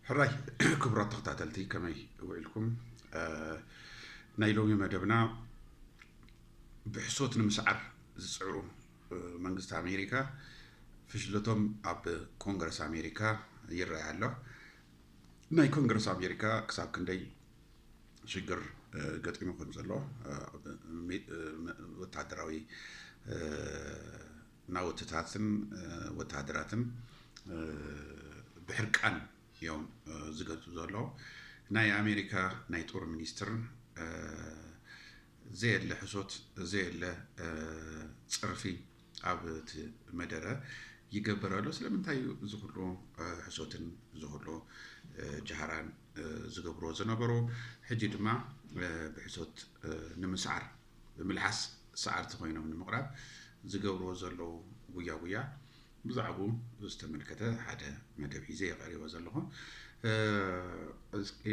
ሕራይ ክቡራት ተኸታተልቲ ከመይ ውዒልኩም ናይ ሎሚ መደብና ብሕሶት ንምስዓር ዝፅዕሩ መንግስቲ ኣሜሪካ ፍሽለቶም ኣብ ኮንግረስ ኣሜሪካ ይረኣይ ኣሎ ናይ ኮንግረስ ኣሜሪካ ክሳብ ክንደይ ሽግር ገጢሙ ከም ዘሎ ወታደራዊ ናውትታትን ወተሃደራትን ብሕርቃን እዮም ዝገልፁ ዘለዉ። ናይ ኣሜሪካ ናይ ጦር ሚኒስትር ዘየለ ሕሶት ዘየለ ፅርፊ ኣብ እቲ መደረ ይገብር ኣሎ። ስለምንታይ እዩ እዚ ኩሉ ሕሶትን እዚ ኩሉ ጃህራን ዝገብርዎ ዝነበሩ? ሕጂ ድማ ብሕሶት ንምስዓር ብምልዓስ ሰዓርቲ ኮይኖም ንምቕራብ ዝገብርዎ ዘለዉ ጉያ ጉያ ብዛዕብኡ ዝተመልከተ ሓደ መደብ ሒዘ የቐሪቦ ዘለኹ እስኪ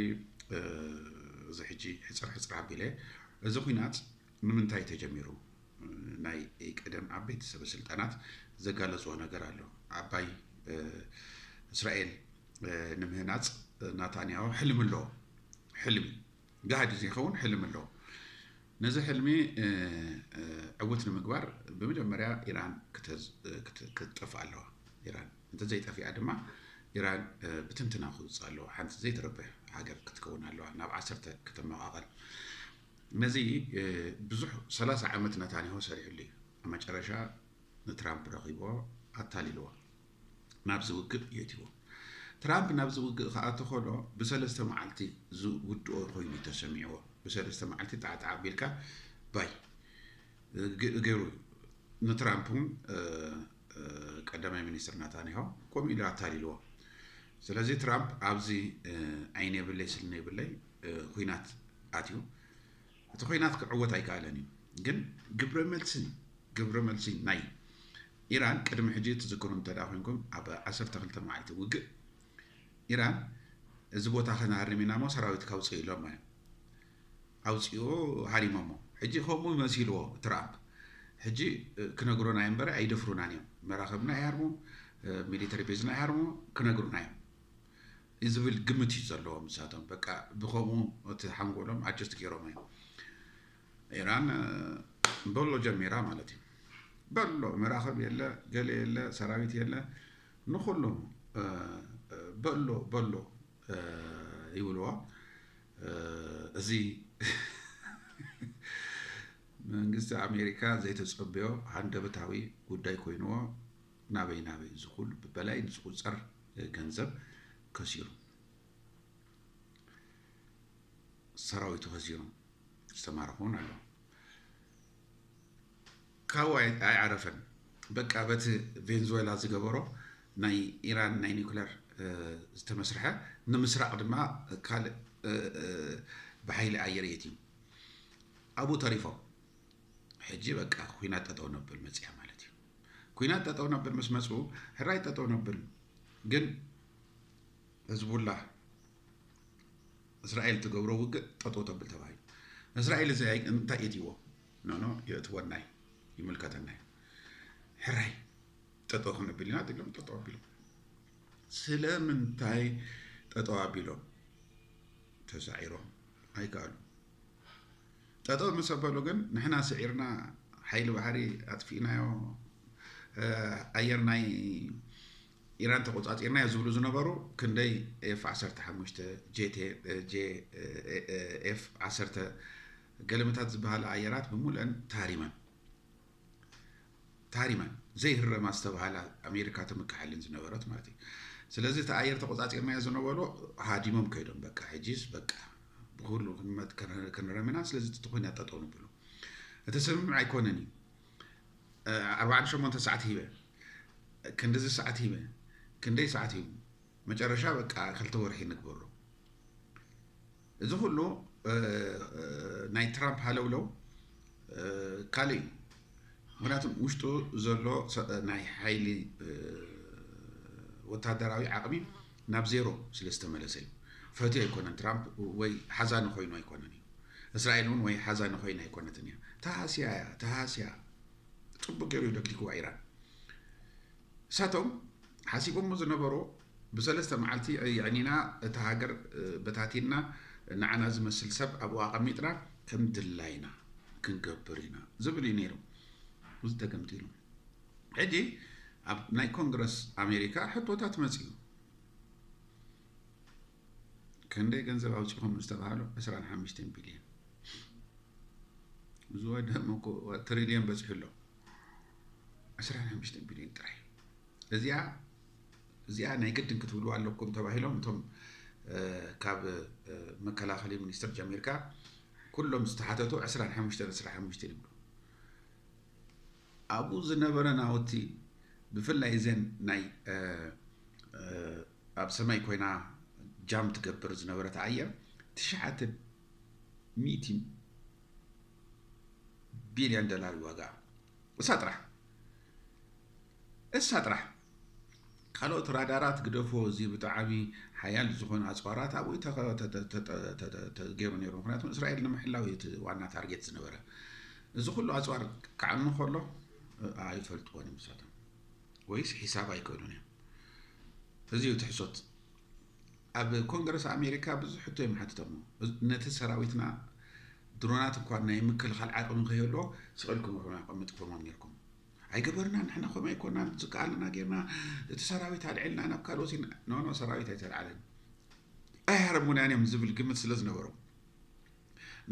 እዚ ሕጂ ሕፅር ሕፅር ኣቢለ እዚ ኩናት ንምንታይ ተጀሚሩ ናይ ቀደም ዓበይቲ ሰበ ስልጣናት ዘጋለፅዎ ነገር ኣሎ ዓባይ እስራኤል ንምህናፅ ናታንያሁ ሕልሚ ኣለዎ ሕልሚ ጋህዲ ዘይከውን ሕልሚ ኣሎ። ነዚ ሕልሚ ዕውት ንምግባር ብመጀመርያ ኢራን ክትጠፍእ ኣለዋ። ኢራን እንተዘይጠፊኣ ድማ ኢራን ብትንትና ክውፅእ ኣለዋ። ሓንቲ ዘይትረብሕ ሃገር ክትከውን ኣለዋ። ናብ ዓሰርተ ከተመቓቐል። ነዚ ብዙሕ ሰላሳ ዓመት ነታንያሁ ሰሪሕሉ እዩ። መጨረሻ ንትራምፕ ረኺቦ ኣታሊልዎ። ናብዚ ውግእ የእትይዎ። ትራምፕ ናብዚ ውግእ ክኣቱ ከሎ ብሰለስተ መዓልቲ ዝውድኦ ኮይኑ እዩ ተሰሚዕዎ። ብሰለስተ መዓልቲ ጣዕጣዕ ኣቢልካ ባይ ገይሩ እዩ። ንትራምፕ እውን ቀዳማይ ሚኒስትር ናታንያሆ ከምኡ ኢሉ ኣታሊልዎ። ስለዚ ትራምፕ ኣብዚ ዓይን የብለይ ስኒ የብለይ ኩናት ኣትዩ። እቲ ኾይናት ክዕወት ኣይከኣለን እዩ ግን ግብረመልሲ ግብረመልሲ ናይ ኢራን ቅድሚ ሕጂ ትዝክሩ እንተ ኮንኩም ኣብ 12 መዓልቲ ውግእ ኢራን እዚ ቦታ ከናርም ኢና እሞ ሰራዊት ካውፅእ ኢሎም እዮም ኣውፅኡ ሃሪሞሞ ሕጂ ከምኡ መሲልዎ ትራምፕ ሕጂ ክነግሩና እዮም በረ ኣይደፍሩናን እዮም መራኸብና ይሃርሙ ሚሊተሪ ቤዝና ይሃርሙ ክነግሩና እዮም ዝብል ግምት እዩ ዘለዎም ንሳቶም በቃ ብከምኡ እቲ ሓንጎሎም ኣጀስት ገይሮሞ እዮም ኢራን በሎ ጀሚራ ማለት እዩ በሎ መራኸብ የለ ገለ የለ ሰራዊት የለ ንኩሉ በሎ በሎ ይብልዎ እዚ መንግስቲ ኣሜሪካ ዘይተፀበዮ ሃንደበታዊ ጉዳይ ኮይንዎ ናበይ ናበይ እዚ ኩሉ ብበላይን ዝቑፀር ገንዘብ ከሲሩ ሰራዊቱ ከሲሩ ዝተማረኹን ኣሎ ካብኡ ኣይዓረፈን በቃ በቲ ቬንዙዌላ ዝገበሮ ናይ ኢራን ናይ ኒክለር ዝተመስርሐ ንምስራቕ ድማ ካልእ ብሓይሊ ኣየር የትዩ ኣብኡ ተሪፎም ሕጂ በቃ ኩናት ጠጠው ነብል መፅያ ማለት እዩ ኩናት ጠጠው ነብል ምስ መፁ ሕራይ ጠጠው ነብል ግን ህዝቡላ እስራኤል ትገብሮ ውግእ ጠጠው ተብል ተባሂሉ እስራኤል እዚ እንታይ የትዎ ኖኖ የእትወናይ ይምልከተናይ ሕራይ ጠጠው ክንብል ኢና ኢሎም ጠጠው ኣቢሎም ስለምንታይ ጠጠው ኣቢሎም ተሳዒሮም ኣይከኣሉ ጠጠው ምስ ኣበሉ ግን ንሕና ስዒርና ሓይሊ ባሕሪ ኣጥፊእናዮ ኣየር ናይ ኢራን ተቆፃፂርና ዮ ዝብሉ ዝነበሩ ክንደይ ኤፍ 15 ኤፍ 1 ገለመታት ዝበሃላ ኣየራት ብምሉአን ተሃሪመን ታሪማን ዘይህረማ ዝተባሃላ ኣሜሪካ ትምክሓልን ዝነበረት ማለት እዩ ስለዚ እቲ ኣየር ተቆፃፂርናዮ ዝነበሮ ሃዲሞም ከይዶም በቃ ሕጂስ በቃ ብኩሉ ክንመት ክንረምና ስለዚ እቲ ኩናት ጠጠው ንብሎ እቲ ስምምዕ ኣይኮነን እዩ ኣርባዕተ ሸሞንተ ሰዓት ሂበ ክንዲዚ ሰዓት ሂበ ክንደይ ሰዓት ሂቡ መጨረሻ በቃ ክልተ ወርሒ ንግበሮ እዚ ኩሉ ናይ ትራምፕ ሃለውለው ካልእ እዩ። ምክንያቱ ውሽጡ ዘሎ ናይ ሓይሊ ወታደራዊ ዓቕሚ ናብ ዜሮ ስለ ዝተመለሰ እዩ። ፈትዮ ኣይኮነን ትራምፕ ወይ ሓዛኒ ኮይኑ ኣይኮነን እዩ። እስራኤል እውን ወይ ሓዛኒ ኮይና ኣይኮነትን እያ። ተሃስያ እያ ተሃስያ ጽቡቅ ገይሩ ደግድግዋ ኢራን እሳቶም ሓሲቦሞ ዝነበሩ ብሰለስተ መዓልቲ ኣየዕኒና እታ ሃገር በታቲንና ንዓና ዝመስል ሰብ ኣብኡ ኣቐሚጥና ከም ድላይና ክንገብር ኢና ዝብል እዩ ነይሩ እዚ ተገምጢሉ ሕጂ ኣብ ናይ ኮንግረስ ኣሜሪካ ሕቶታት መፅኡ ክንደይ ገንዘብ ኣውፂኹም ዝተባሃሉ 25 ቢልዮን እዚ ወደሞ ትሪልዮን በፂሑ ኣሎ 25 ቢልዮን ጥራይ እዚኣ እዚኣ ናይ ግድን ክትብልዋ ኣለኩም ተባሂሎም እቶም ካብ መከላኸሊ ሚኒስትር ጀሚርካ ኩሎም ዝተሓተቱ 25 25 ይብሉ ኣብኡ ዝነበረ ናውቲ ብፍላይ እዘን ናይ ኣብ ሰማይ ኮይና ጃም ትገብር ዝነበረት ኣየር ትሽዓተ ሚእቲ ቢልዮን ዶላር ዋጋ እሳ ጥራሕ እሳ ጥራሕ ካልኦት ራዳራት ግደፎ እዚ ብጣዓሚ ሓያል ዝኾነ ኣፅዋራት ኣብኡ ተገይሩ ነይሩ ምክንያቱ እስራኤል ንምሕላው እዩ እቲ ዋና ታርጌት ዝነበረ እዚ ኩሉ ኣፅዋር ክዓኑ ከሎ ኣይፈልጥዎን እዮም ንሳቶም ወይስ ሒሳብ ኣይክእሉን እዮም እዚ እዩ እቲ ሕሶት ኣብ ኮንግረስ ኣሜሪካ ብዙሕ ሕቶ እዮም ሓትቶም ነቲ ሰራዊትና ድሮናት እኳ ናይ ምክልኻል ዓቕሚ ከይህልዎ ስቕልኩም ርሑና ቀምጥኩሞም ነርኩም ኣይገበርናን ንሕና ከምኡ ኣይኮናን ዝከኣለና ጌርና እቲ ሰራዊት ኣልዒልና ናብ ካልኦት ኖኖ ሰራዊት ኣይተልዓለን ኣይሃርሙናን እዮም ዝብል ግምት ስለ ዝነበሮም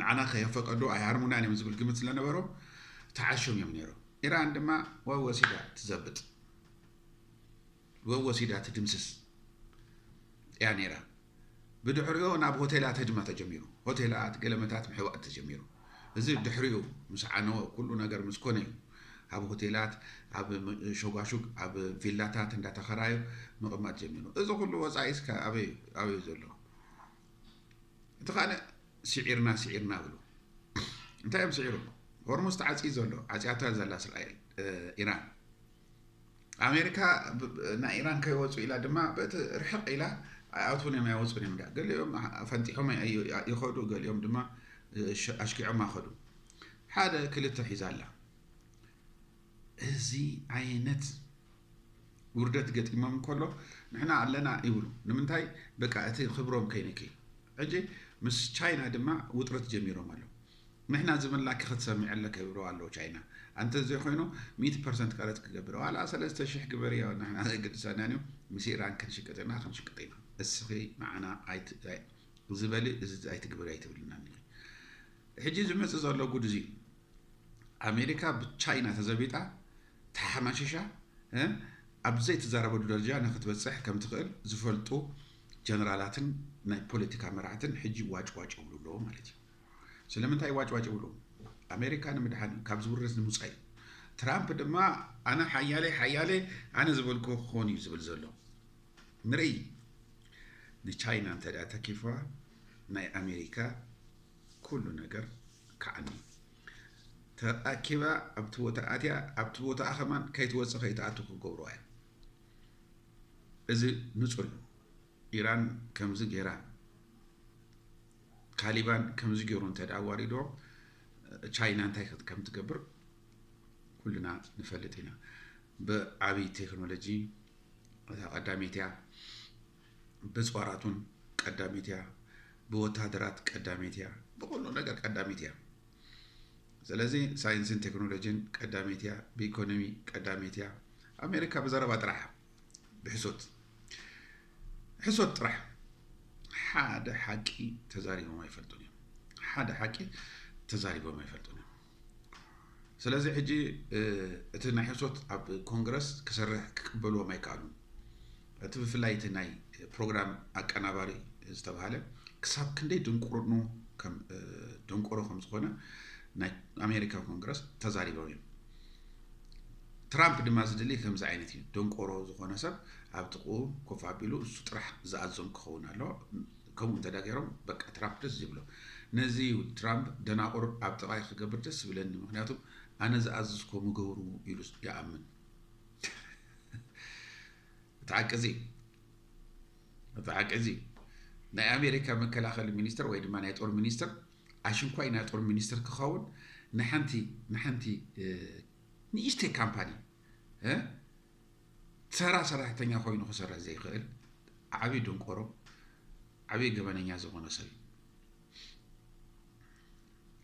ንዓና ከየፈቀዱ ኣይሃርሙናን እዮም ዝብል ግምት ስለነበሮም ተዓሾም እዮም ነይሮም ኢራን ድማ ወሲዳ ትዘብጥ ወወሲዳ ትድምስስ እያ ነይራ። ብድሕሪኦ ናብ ሆቴላት ህድማ ተጀሚሩ። ሆቴላት፣ ገለመታት ምሕባእ ተጀሚሩ። እዚ ድሕሪኡ ምስ ዓነወ ኩሉ ነገር ምስ ኮነ እዩ። ኣብ ሆቴላት፣ ኣብ ሾጓሹግ፣ ኣብ ቪላታት እንዳተኸራዩ ምቕማጥ ጀሚሩ። እዚ ኩሉ ወጻኢስ ከ ኣበይ ኣበይ እዩ ዘሎ? እቲ ካልእ ስዒርና ስዒርና ብሉ። እንታይ እዮም ስዒሮም? ሆርሙዝ ተዓጽዩ ዘሎ፣ ዓጽያቶ እያ ዘላ እስራኤል፣ ኢራን። ኣሜሪካ ናይ ኢራን ከይወፁ ኢላ ድማ በቲ ርሕቕ ኢላ ኣይኣትዉን እዮም ኣይወፁን እዮም ዳ ገሊኦም ፈንጢሖም ይኸዱ ገሊኦም ድማ ኣሽኪዖም ኣኸዱ ሓደ ክልተ ሒዛ ኣላ እዚ ዓይነት ውርደት ገጢሞም ከሎ ንሕና ኣለና ይብሉ ንምንታይ በቃ እቲ ክብሮም ከይነኪ ሕጂ ምስ ቻይና ድማ ውጥረት ጀሚሮም ኣሎ ንሕና ዝብልናኪ ክትሰምዒ ኣለኪ ይብልዋ ኣለዉ ቻይና ኣንተ ዘይኮይኑ ሚእቲ ፐርሰንት ቀረጽ ክገብር ዋላ ሰለስተ ሽሕ ግበርዮ ንሕና ዘየገድሰናን እዩ ምስ ኢራን ክንሽቅጥ ኢና ክንሽቅጥ ኢና እስኺ ንዓና ኣይ እዚ በሊ እዚ ኣይትግበሪ ኣይትብልናን ኢኺ ሕጂ ዝመጽእ ዘሎ ጉድ እዚ ኣሜሪካ ብቻይና ተዘቢጣ ተሓማሽሻ ኣብ ዘይትዛረበሉ ደረጃ ንክትበፅሕ ከም ትኽእል ዝፈልጡ ጀነራላትን ናይ ፖለቲካ መራሕትን ሕጂ ዋጭ ዋጭ ይብሉ ኣለዎ ማለት እዩ ስለምንታይ ዋጭዋጭ ይብሉ? ኣሜሪካ ንምድሓን ካብ ዝውርዝ ንምውፃእ እዩ። ትራምፕ ድማ ኣነ ሓያለይ ሓያለ ኣነ ዝበልኩ ክኾን እዩ ዝብል ዘሎ ንርኢ። ንቻይና እንተ ተኪፍዋ ናይ ኣሜሪካ ኩሉ ነገር ክዓኒ ተኣኪባ ኣብቲ ቦታ ኣትያ ኣብቲ ቦታኣ ከማን ከይትወፅእ ከይትኣቱ ክገብርዋ እዮም እዚ ንፁር እዩ ኢራን ከምዚ ጌራ ታሊባን ከምዚ ገይሩ እንተ ኣዋሪዶ ቻይና እንታይ ከም ትገብር ኩልና ንፈልጥ ኢና ብዓብይ ቴክኖሎጂ እታ ቀዳመይቲ እያ ብፅዋራቱን ቀዳመይቲ እያ ብወታደራት ቀዳመይቲ እያ ብኩሉ ነገር ቀዳመይቲ እያ ስለዚ ሳይንስን ቴክኖሎጂን ቀዳመይቲ እያ ብኢኮኖሚ ቀዳመይቲ እያ ኣሜሪካ ብዘረባ ጥራሕ ብሕሶት ሕሶት ጥራሕ ሓደ ሓቂ ተዛሪቦም ኣይፈልጡን እዮም ሓደ ሓቂ ተዛሪቦም ኣይፈልጡን እዮም ስለዚ ሕጂ እቲ ናይ ሕሶት ኣብ ኮንግረስ ክሰርሕ ክቅበልዎም ኣይከኣሉን እቲ ብፍላይ እቲ ናይ ፕሮግራም ኣቀናባሪ ዝተባሃለ ክሳብ ክንደይ ድንቁርኑ ደንቆሮ ከም ዝኾነ ናይ ኣሜሪካ ኮንግረስ ተዛሪቦም እዮም ትራምፕ ድማ ዝደልይ ከምዚ ዓይነት እዩ ደንቆሮ ዝኾነ ሰብ ኣብ ጥቕኡ ኮፍ ኣቢሉ እሱ ጥራሕ ዝኣዞም ክኸውን ኣሎ ከምኡ እንተ ገይሮም በቃ ትራምፕ ደስ ዝብሎ ነዚ እዩ ትራምፕ ደናቑር ኣብ ጥቓይ ክገብር ደስ ዝብለኒ ምክንያቱ ኣነ ዝኣዝዝኮ ምገብሩ ኢሉ ይኣምን እቲ ሓቂ እዚ እቲ ሓቂ እዚ ናይ ኣሜሪካ መከላኸሊ ሚኒስትር ወይ ድማ ናይ ጦር ሚኒስትር ኣሽንኳይ ናይ ጦር ሚኒስትር ክኸውን ንሓንቲ ንሓንቲ ንእሽተይ ካምፓኒ ተራ ሰራሕተኛ ኮይኑ ክሰርሕ ዘይክእል ዓብዪ ድንቆሮ ዓብዪ ገበነኛ ዝኾነ ሰብ እዩ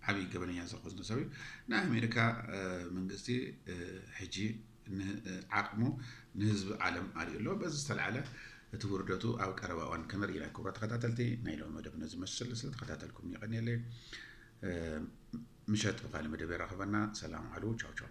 ዓብዪ ገበነኛ ዝኾነ ሰብ እዩ ናይ ኣሜሪካ መንግስቲ ሕጂ ዓቕሙ ንህዝቢ ዓለም ኣርእዩ ኣሎ። በዚ ዝተልዓለ እቲ ውርደቱ ኣብ ቀረባ እዋን ከነርኢ ኢና። ክቡራት ተኸታተልቲ ናይ ሎሚ መደብ ነዚ መስል ስለተኸታተልኩም የቐንየለይ። ምሸት ብካልእ መደብ የራኽበና። ሰላም ዓሉ። ቻው ቻው።